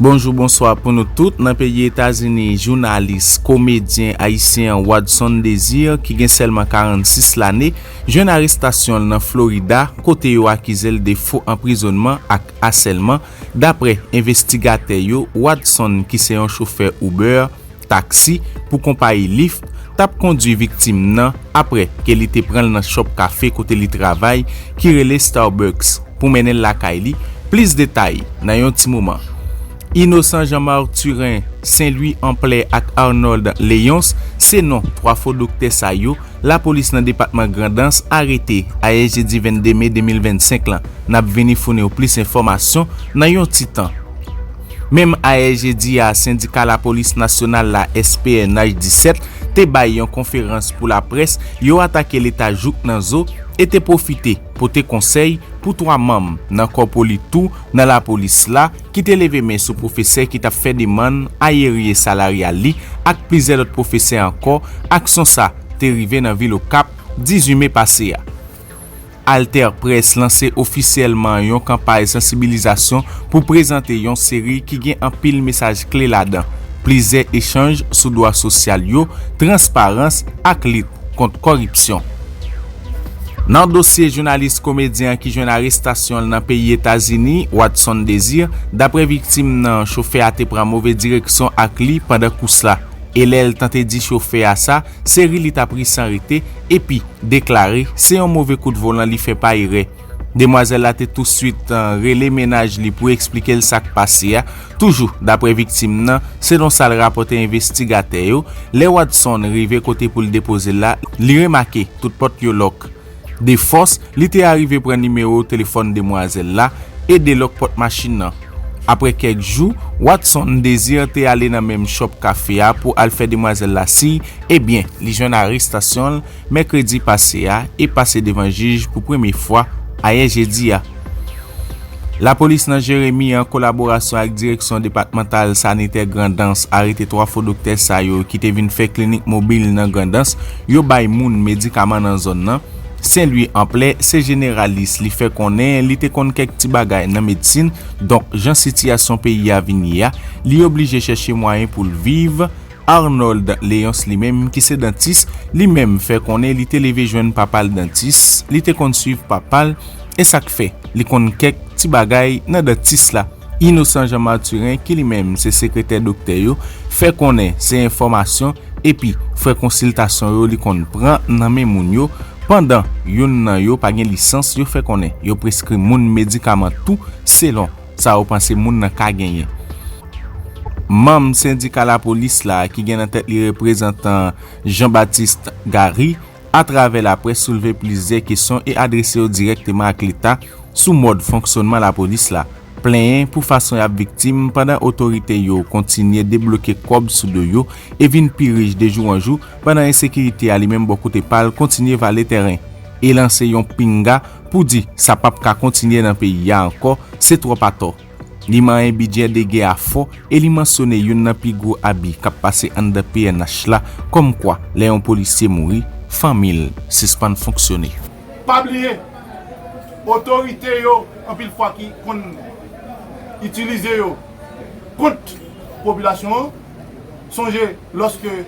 Bonjou bonswa pou nou tout nan peyi Etazini jounalis komedyen ayisyen an Wadson Désir ki gen sèlman 46 lane jwenn arestasyon l nan Florida kote yo akize l de fo anprizonman ak asèlman daprè envestigatè yo Wadson ki se yon chofè Uber Taksi pou konpayi Lyft t ap kondwi viktim nan apre ke li te pran l nan chòp kafe kote li travay ki rele Starbucks pou mennen l lakay li, plis detay nan yon ti moman. Innocent Jean Mathurin Saint Louis Amplè ak Arnold Léonce se non 3 fo doktè sa yo lapolis nan depatman Grandans arete ayè jedi 22 me 2025 lan. N ap vini founi w plis enfòmasyon nan yon ti tan. Menm ayè jedi a, sendika lapolis nasyonal la, SPNH 17, te bay yon konferans pou laprès, yo atake leta jouk nan zo e te pwofite pote konsèy pou 3 manm nan kò poli tou nan lapolis la ki te leve men sou pwofesè ki t ap fè demann ayeriye salaryal li ak plizyè lòt pwofesè ankò, aksyon sa te rive nan vil Okap 18 me pase a. AlterPresse lanse ofisyèlman yon kanpay sansibilizasyon pou prezante yon seri ki gen anpil mesaj kle ladan plizyè echanj sou dwa sosyal yo, transparans ak lit kont kòripsyon. Nan dosye jounalis komedyen an ki jwenn arestasyon l nan peyi Etazini, Watson Desir, daprè viktim nan, chofè a te pran move direksyon ak li pandan kous la e lè l tante di chofè a sa, Se ri li t ap ri san rete, epi, deklare, se yon move kout volan li fè pa erè. Demwazèl la te touswit rele mennaj li pou eksplike l sa k pase a. Toujou daprè viktim nan, selon sa l rapòte envestigatè yo, lè Wadson rive kote pou l depoze l la, li remake tout pòt yo lòk. De fòs, li te arive pran nimewo telefòn demwazèl la e delòk pòt machin nan. Apre kèk jou, Watson Désir te ale nan menm chòp kafe a pou al fè demwazèl la siy, e byen, li jwenn arestasyon l mèkredi pase a e pase devan jij pou premye fwa ayè jedi a. Lapolis nan Jeremi an kolaborasyon ak Direksyon Depatmantal Sanitè Grandans arete 3 fo doktè sa yo ki te vin fè klinik mobil nan Grandans yo bay moun medikaman nan zòn nan. Senlwi Anplè se jeneralis li fè konnen li te konn kèk ti bagay nan medsin donk jan sitiyasyon peyi a vin ye a li oblije chèche mwayen pou l viv Arnold Léonce li menm ki se dantis, li menm fè konnen li te leve jwenn papa l dantis, li te konn swiv papa l, e sa k fè li konn kèk ti bagay nan dantis la. Innocent Jean Mathurin ki li menm se sekretè doktè yo, fè konnen se enfòmasyon epi frè konsiltasyon yo li konn pran nan men moun yo, pandan youn nan yo pa gen lisans yo fè konnen yo preskri moun medikaman tou selon. sa yo panse moun nan ka genyen. Manm sendika lapolis la ki gen nan tèt li reprezantan Jean Baptiste Garry atravè laprès soulve plizyè kesyon e adrese yo dirèkteman ak leta sou mòd fonksyonman lapolis la, plenyen pou fason y ap viktim pandan otorite yo kontinye debloke kòb sou do yo e vin pi rich de jou an jou pandan ensekirite a li menm bò kote pa l kontinye vale tèren e lanse yon pinga pou di sa pap ka kontinye nan peyi a ankò se twòp atò. Li manyen bidjè dege a fò e li mansyone youn nan pi gwo abi k ap pase anndan pnh la kòmkwa lè yon polisye mouri, fanmi l sispann fonksyone. Pa bliye, otorite yo anpil fwa ki konn itilize yo kont popilasyon an. Sonje lòske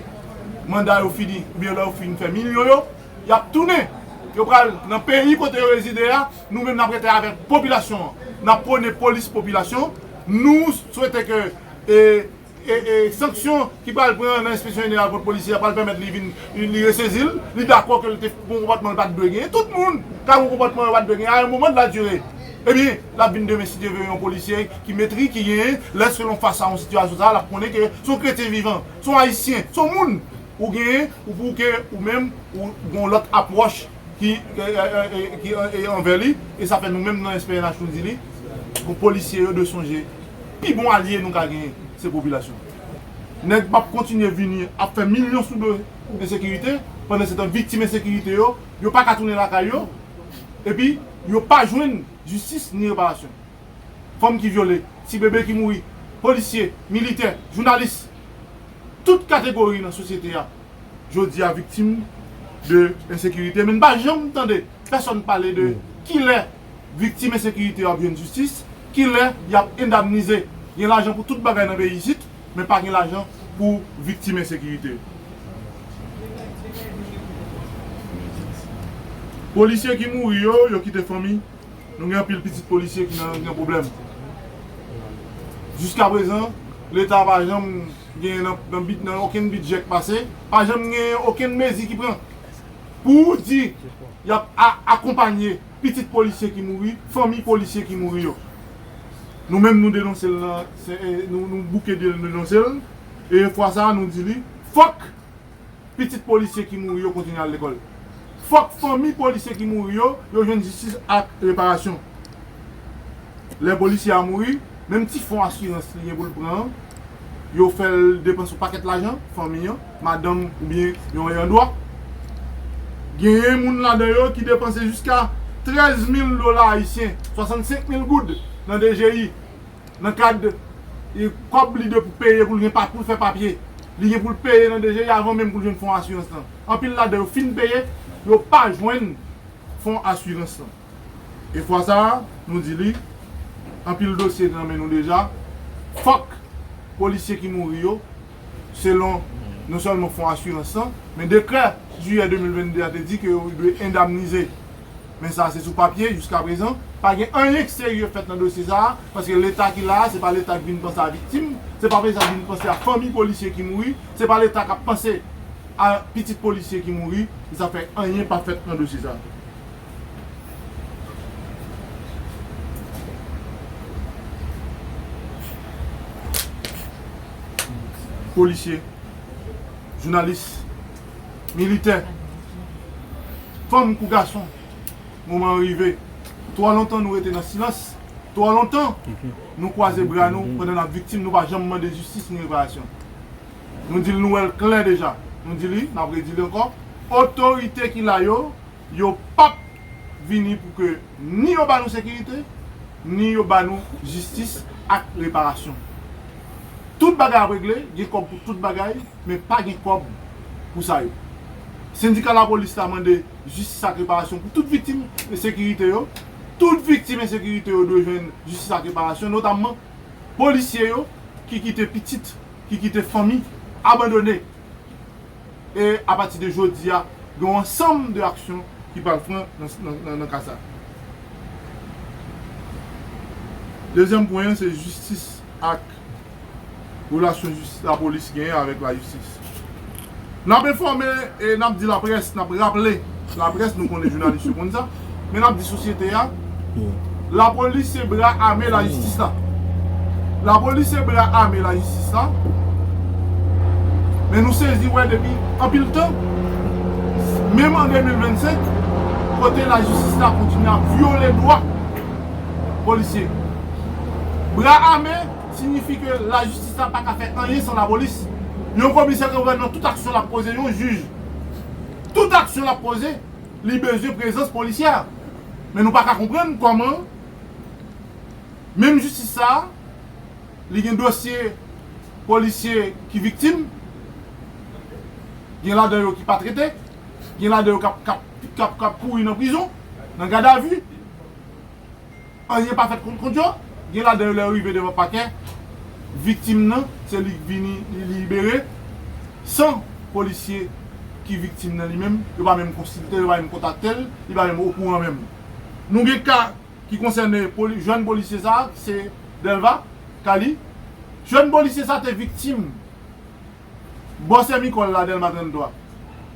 manda yo fini oubyen lè yo fin fè milyon yo. Y ap tounen. Yo pral nan peyi kote yo rezide a. Nou menm n ap rete avèk popilasyon an. N ap pwone polis popilasyon. Nou swete ke sanksyon ki pral pran nan Enspeksyon Jeneral kont polisye a pral pèmèt li vin, li resezi l, li dakò ke l te gon konpòtman l pa t dwe genyen. Tout moun ka gon konpòtman yo pa t dwe genyen a yon moman de la dure. Ebyen, l ap vin demen si Dye ve yon polisye ki metri, ki genyen, lèske l an fas a yon sitiyasyon sa a, l ap konnen ke s on kretyen vivan, s on ayisyen, s on moun. Ou genyen ou pou ke ou menm ou gen yon lòt apwòch ki ki anvè li e sa fè nou menm nan SPNH nou di li pou polisye yo dwe sonje pi bon alye nou ka genyen se popilasyon an. Nèg pap kontinye vini ap fè milyon sou do ensekirite pandansetan viktim ensekirite yo yo pa ka tounen lakay yo epi yo pa jwenn jistis ni reparasyon. fanm ki vyole, ti bebe ki mouri, polisye, militè, jounalis, tout kategori nan sosyete a jodi a viktim de ensekirite men n pa janm tande pèsòn pale de kilè viktim ensekirite yo ap jwenn jistis, kilè y ap endamnize, gen lajan pou tout bagay nan peyi isit men pa gen lajan pou viktim ensekirite yo. Polisye ki mouri yo, yo kite fanmi Nou gen anpil pitit polisye ki nan gen pwoblèm. Jiska prezan, Leta pa janm gen nan okenn bidjè k pase, pa janm gen okenn mezi ki pran pou di y ap akonpanye pitit polisye ki mouri, fanmi polisye ki mouri yo. Nou menm nou denonse l nan, nou bouke de l denonse l e fwa sa a nou di li fòk. Pitit polisye ki mouri yo kontinye al lekòl. Fòk fanmi polisye ki mouri yo, yo jwenn jistis ak reparasyon. Lè polisye a mouri, menm ti fon asirans li gen pou l pran an, yo fè l depanse yon pakèt lajan, fanmi an, madanm oubyen yon ayan dwa. Genyen moun ladan yo ki depanse jiska 13 mil dola ayisyen, 65 mil goud, nan DGI. nan kad kòb li dwe pou peye pou l fè papye, li gen pou l peye nan DGI avan menm pou l jwenn fon asirans lan. Anpil ladan yo fin peye, yo pa jwenn fon asirans lan. E fwa sa a, nou di li, anpil dosye nan men nou deja, fòk polisye ki mouri yo, selon non sèlman fon asirans lan, men dekrè jiyè 2022 a te di ke yo dwe endamnize Men sa se sou papye jiska prezan, pa gen anyen k serye fèt nan dosye sa, paske leta ki la a se pa leta k vin panse a viktim, se pa leta k vin panse a fanmi polisye ki mouri, se pa leta k ap panse a pitit polisye ki mouri, se sa k fè anyen pa fèt nan dosye sa. Polisye, jounalis. militè, fanm kou gason, moman an rive. Twò lontan nou rete nan silans, twò lontan nou kwaze bra nou pandan n ap viktim, nou pa janm mande jistis ni reparasyon. Nou di l nou wè l klè deja, nou di li, n ap redi li ankò, otorite ki la yo, Yo pap vini pou ke ni yo ba nou sekirite, ni yo ba nou jistis ak reparasyon. Tout bagay ap regle, gen kòb pou tout bagay, men pa gen kòb pou sa yo. Sendika lapolis la mande jistis ak reparasyon pou tout viktim ensekirite yo. Tout viktim ensekirite yo dwe jwenn jistis ak reparasyon, notamman polisye yo ki kite pitit, ki kite fanmi abandone. e apati de jodi a gen yon ansanm de aksyon ki pral pran nan ka sa. Dezyèm pwen an se jistis ak relasyon jistis lapolis genyen avèk lajistis. N ap enfòme e n ap di laprès, n ap raple laprès, nou konnen jounalis yo konn sa. Men nap di sosyete a La polis se bra ame la jistis la La polis se bra ame la jistis la Men nou sezi wè depi anpil tan Menm an 2025 Kote la jistis la kontinye ap vyole dwa Polisye Bra ame Signifi ke la jistis la paka fè anyen san la polis Yon komisè ke wè nan tout aksyon lap poze yon jij Tout aksyon lap poze Li bezwen prezans polisye a. Men nou pa ka konprann kòman menm jistis sa a li gen dosye polisye ki viktim, gen ladan yo ki pa trete, gen ladan yo k ap kouri nan prizon, nan gadavi. Anyen pa fèt kont yo, gen ladan yo lè yo rive devan pakè, viktim nan se li k vini li libere san polisye ki viktim nan li menm yo pa menm konsilte l, yo pa menm kontakte l, li pa menm okouran menm. Nou gen ka ki konsène jèn polisye sa a, se Delva, ka li. Jèn polisye sa a te viktim. bò sè Micol la, Delma 33,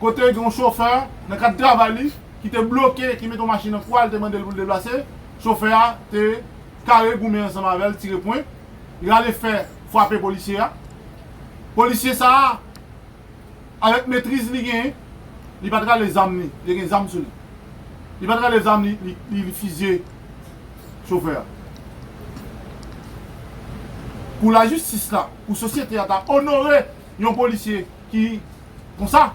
kote gen yon chofè nan kad travay li ki te bloke, ki mete yon machin nan kwa l te mande l pou l deplase, chofè a te kare goumen ansanm avè l, tire pwen, rale fè, fwape polisye a. Polisye sa a, avèk metriz li genyen, li pa t rale zam li, li te gen zam sou li, li pa t rale zam li, li fizye. chofè a. Pou lajistis la, pou sosyete a ta onore yon polisye ki konsa,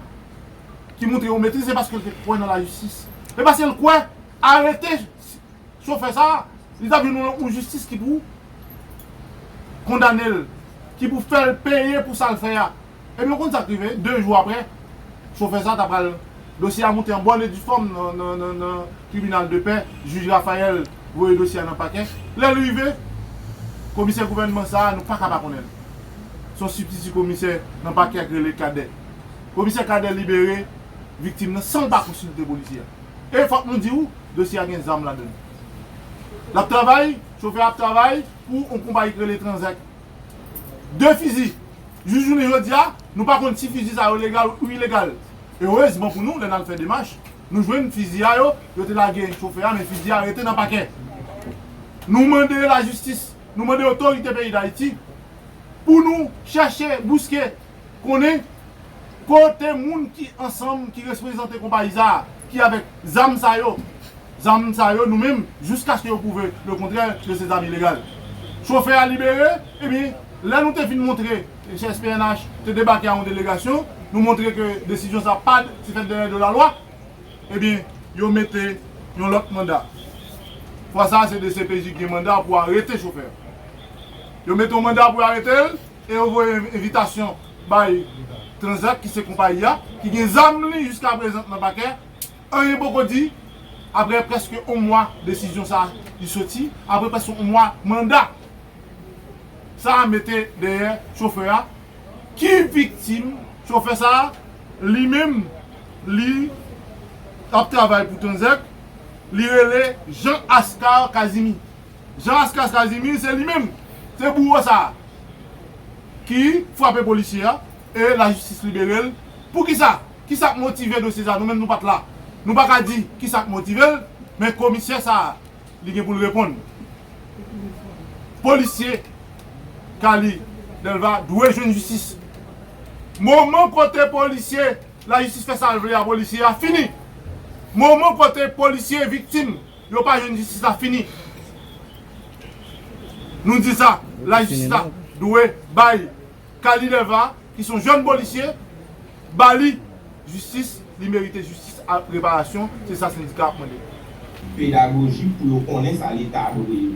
ki montre yon metriz, se paske l te kwè nan lajistis. E paske l kwè, arete chofè sa a, li ta jwenn yon jistis ki pou kondane l, ki pou fè l peye pou sa l fè a. Epi ou konn sa k rive? De jou aprè, chofè sa a ta pral, dosye a moute an bòn e difòm nan tribinal de pè, jij Raphael voye dosye a nan pakè. Lè l rive, komisè gouvènman sa a, nou pa ka pa konnen l. Se yon sibtiti komisè nan pakè a ki rele Cadet. Komisè Cadet libere viktim nan san l pa konsilte polisye a. E fòk nou di ou, dosye a gen zam ladan l. L ap travay, chofè a ap travay pou yon konpayi ki rele Tranzac. 2 fizi jis jounen jodi a nou pa konn si fizi sa yo legal ou ilegal erezman pou nou lè nal fè demach nou jwenn fizi a yo yo te lage chofè a men fizi a rete nan pakè nou mande lajistis nou mande otorite peyi dayiti pou nou chèche bouske Konnen kote moun ki ansanm ki resprezante konpayi sa a ki avèk zam sa yo zam sa yo nou menm jiskaske yo pwouve le kontrè ke se zam ilegal chofè a libere ebyen lè nou te fin montre SPNH te debake a yon delegasyon nou montre ke desizyon sa pad se fèt dèyè do lalwa ebyen yo mete yon lòt manda fwa sa se dcpj ki gen manda pou arete chofè a yo mete yon manda pou yo arete l. e yo voye envitasyon bay Tranzac ki se konpayi a ki gen zam li jiskaprezant nan pakè, anyen poko di aprè prèske on mwa desizyon sa li soti, aprè prèske on mwa manda sa mete dèyè chofè a ki viktim chofè sa li menm li ap travay pou Tranzac li rele Jean Ascar Casimir. Jean Ascas Casimir se li menm, se bouwo sa a ki frape polisye a e lajistis libere l. Poukisa? Kisa k motive dosye sa a? Nou menm nou pa t la. Nou pa ka di kisa k motive l, men komisè sa a li gen pou l reponn. Polisye Carly Delva dwe jwenn jistis. Moman kote polisye lajistis fè sa l vle a polisye a fini. Moman kote polisye viktim. Yo pa jwenn jistis la fini nou di sa la jistis la dwe bay Kali Dèlva ki son jèn polisye ba li jistis li merite jistis ak reparasyon se sa sendika ap mande. pedagojik pou yo konnen sa leta dwe yo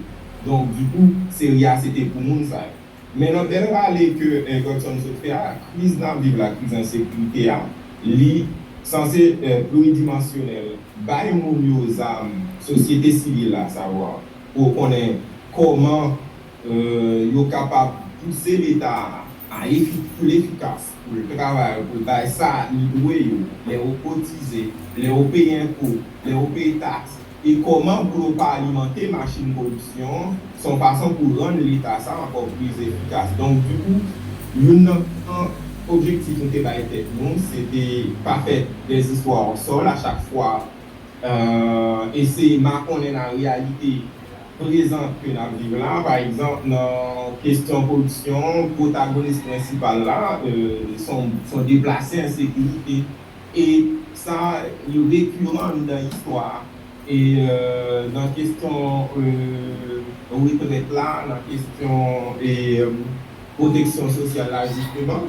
donk dikou seri a se te pou moun sa yo. Men nan bèl rale ke Gertson sot fè a, kriz n ap viv la, kriz ensekirite a, li sanse pluridimansyonèl, bay moun yo zam, sosyete sivil la, savwa, pou yo konnen kòman yo kapab pouse Leta a pou l efikas. pou l travay yo, pou l bay sa li dwe yo, lè yo kotize, lè yo peye enpo, lè yo peye taks, e kòman pou yo pa alimante machin koripsyon an, se yon fason pou rann Leta sa ankò plis efikas. Donk, dikou, youn nan gran objektif nou te bay tèt nou, se te pa fè dèzistwa osòl a chak fwa, eseye makonnen nan reyalite prezan ke n ap viv la. Pa egzanp, nan kesyon koripsyon, pwotagonis prensipal la son deplase an sekirite. E sa li rekiran an mitan istwa a. E nan kesyon retrèt la, nan kesyon pwoteksyon sosyal la jisteman.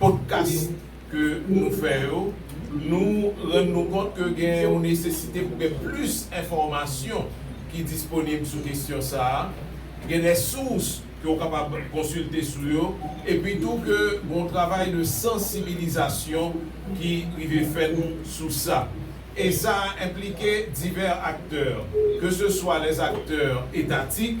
Podkas ke nou fè yo, nou rann nou kont ke gen yon nesesite pou gen plis enfòmasyon ki disponib sou kesyon sa a, gen de sous ke ou kapab konsilte sou yo, epi tou ke gon travay de sansibilizasyon ki rive fèt sou sa. E sa enplike divè aktè, ke se swa lèzaktè etatik,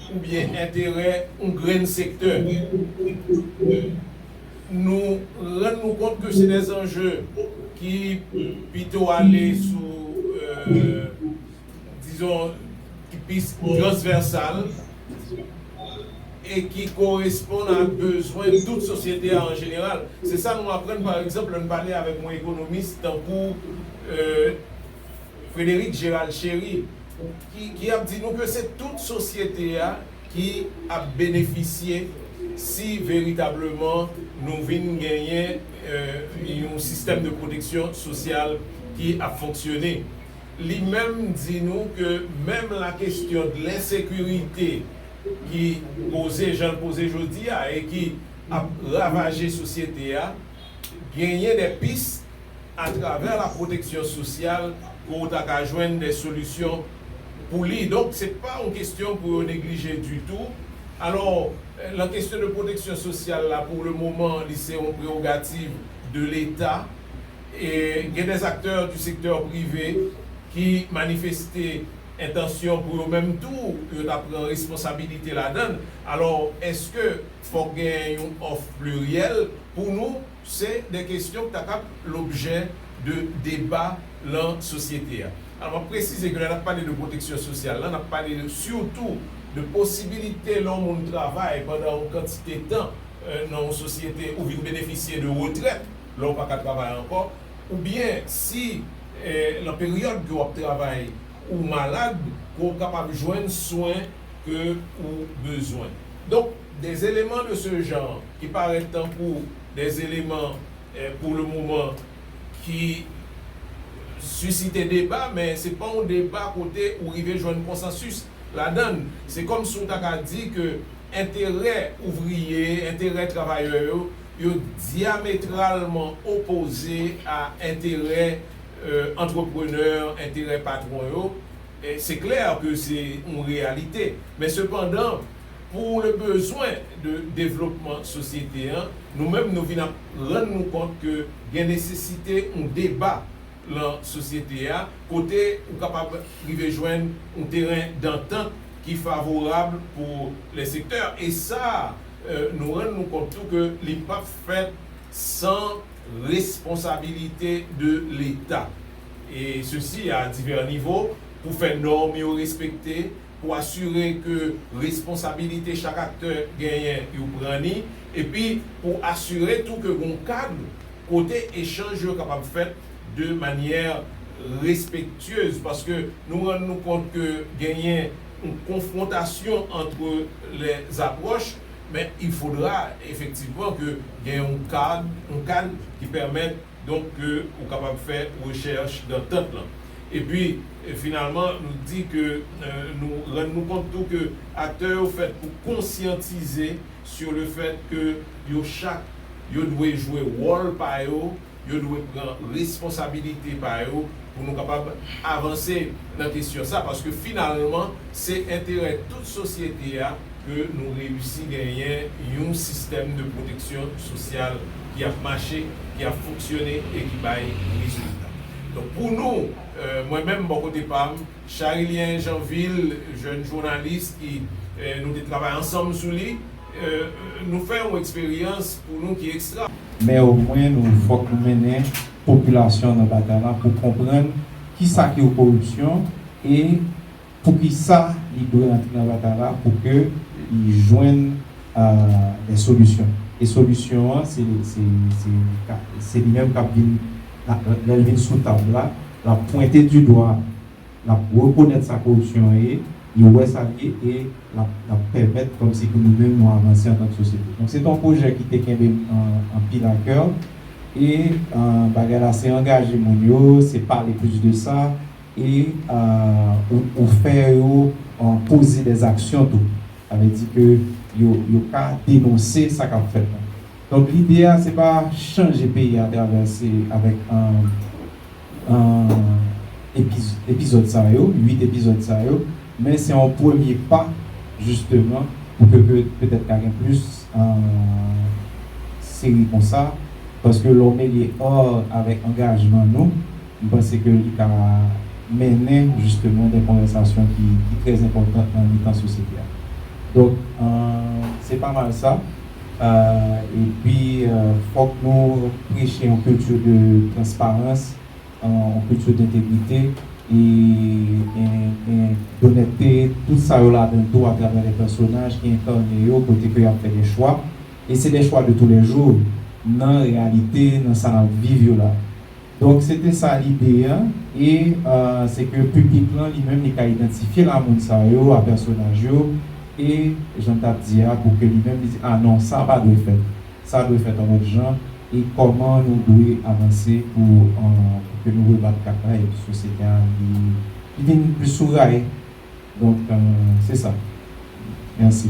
oubyen enterè yon grenn sektè. Nou rann nou kont ke se de zanje ki pito ale sou, dizon, ki plis transvèsal e ki koresponn a bezwen tout sosyete a an jeneral. Se sa nou aprann, pa egzanp, lè nou pale avèk yon ekonomis tankou. Frédéric Gérald Chéry ki ap di nou ke se tout sosyete a ki ap benefisye si veritableman nou vin genyen yon sistèm de pwoteksyon sosyal ki ap fonksyone. Li menm di nou ke menm la kestyon de l'insécurité ki poze jan l poze jodi a e ki ap ravaje sosyete a, genyen des pistes, atravè la pwoteksyon sosyal ke w ta ka jwenn de solisyon pou li. Donk se pa yon kestyon pou yo neglije ditou. Alò, lan kestyon de pwoteksyon sosyal la pou le moman li se yon prerogativ de leta. E gen des aktè di sektè prive ki manifeste entansyon pou yo menm tou yo ta pran responsabilite ladann. Alò, eske fòk gen yon òf pliryèl pou nou? Se de kestyon k ta kab lobjè de deba lan sosyete a. Alò, m ap presize ke lè n ap pale de pwoteksyon sosyal lan, n ap pale sitou de posibilite lè yon moun travay pandan yon kantite tan nan yon sosyete, ou vin benefisye de retrèt lè w pa ka travay ankò, oubyen si lan peryòd ke w ap travay ou malad, ke w kapab jwenn swen. ke ou bezwen. Donk, de eleman de se jan ki parèt tankou de eleman pou le moman ki sisite deba men se pa yon deba kote ou rive jwenn konsansis ladan l. Se kòm si ou ta ka di ke enterè ouvriye, enterè travayè yo, yo dyametralman opoze a enterè antreprenè, enterè patwon yo. Se klè ke se yon reyalite, men sepandan pou le bezwen de devlopman sosyete an, nou menm nou vin ap rann nou kont ke gen nesesite yon deba lan sosyete a kote ou kapab rive jwenn yon teren dantant ki favorab pou le sektè. E sa nou rann nou kont tou ke li pap fèt san responsabilite de leta. e sesi a divè nivo, pou fè nòm yo respekte, pou asire ke responsabilite chak aktè genyen yo pran ni, epi pou asire tou ke gen yon kad kote echanj yo kapab fèt de manyè respektyez, paske nou rann nou kont ke genyen yon konfwontasyon antre lè zapròch, men il fodra efektivman ke gen yon kad, yon kad ki pèmèt. Donk ke ou kapab fè rechèch dan tant lan. Epi, finalman, nou di ke nou rann nou kont tou ke aktè yo fèt pou konsyantize sur le fait ke yo chak yo dwe jwe wòl pa yo, yo dwe pran responsabilite pa yo pou nou kapab avanse nan kesyon sa. Paske finalman, se enterè tout sosyete a. ke nou reyisi genyen yon sistèm de pwoteksyon sosyal ki ap mache, ki ap fonksyone e ki bay rezilta. Donk pou nou, mwen menm bò kote pa m, Charillien Jeanvil, jèn jounalis ki nou te travay ansanm sou li, nou fè yon eksperyans pou nou ki ekstra. Men omwen nou fòk nou mennen popilasyon nan batay la pou konprann kisa ki yon koripsyon e. Poukisa li dwe rantre nan batay la pou ke li jwenn des solutions. E solution an se se li menm kap vin lè l vin sou tab la lap pwente du doigt lap rekonèt sa koripsyon an ye li wè sa l ye e lap pèmèt kòm si pou nou menm nou avanse an tank sosyete. Donk se te yon pwojè ki te kenbe m anpil a coeur e bagay la se angaje moun yo se pale plus de sa. Et ou fè yo poze des actions tou. Sa vle di ke yo ka denonse sa kap fèt la. Donk lide a se pa chanje peyi a atravè se avèk epizòd sa yo, 8 epizòd sa yo, men se yon premye pa jisteman pou ke petèt ka gen plis seri konsa paske lè w mele ar avèk angajman nou. M panse ke li ka mennen jisteman de konvèsasyon ki trè enpòtan nan mitan sosyete a. Donk, se pa mal sa. Epi, fòk nou preche yon kilti de transparans, yon kilti dentegrite e donètte, tout sa yo ladan l tou atravè lè pèsonaj ki enkane yo kote ke y ap fè de chwa. E se de chwa de toulèjou nan reyalite, nan sa n ap viv yo la. Donk se te sa lide a, e se ke piblik lan li menm li ka idantifye la moun sa yo a pèsonaj yo, e jan n t ap di a pou ke li menm li di a non sa pa dwe fèt, sa dwe fèt yon lòt jan, e kòman nou dwe avanse pou ke nou rebat kat la epi sosyete a li vin plis sou ray. Donk se sa. Mèsi.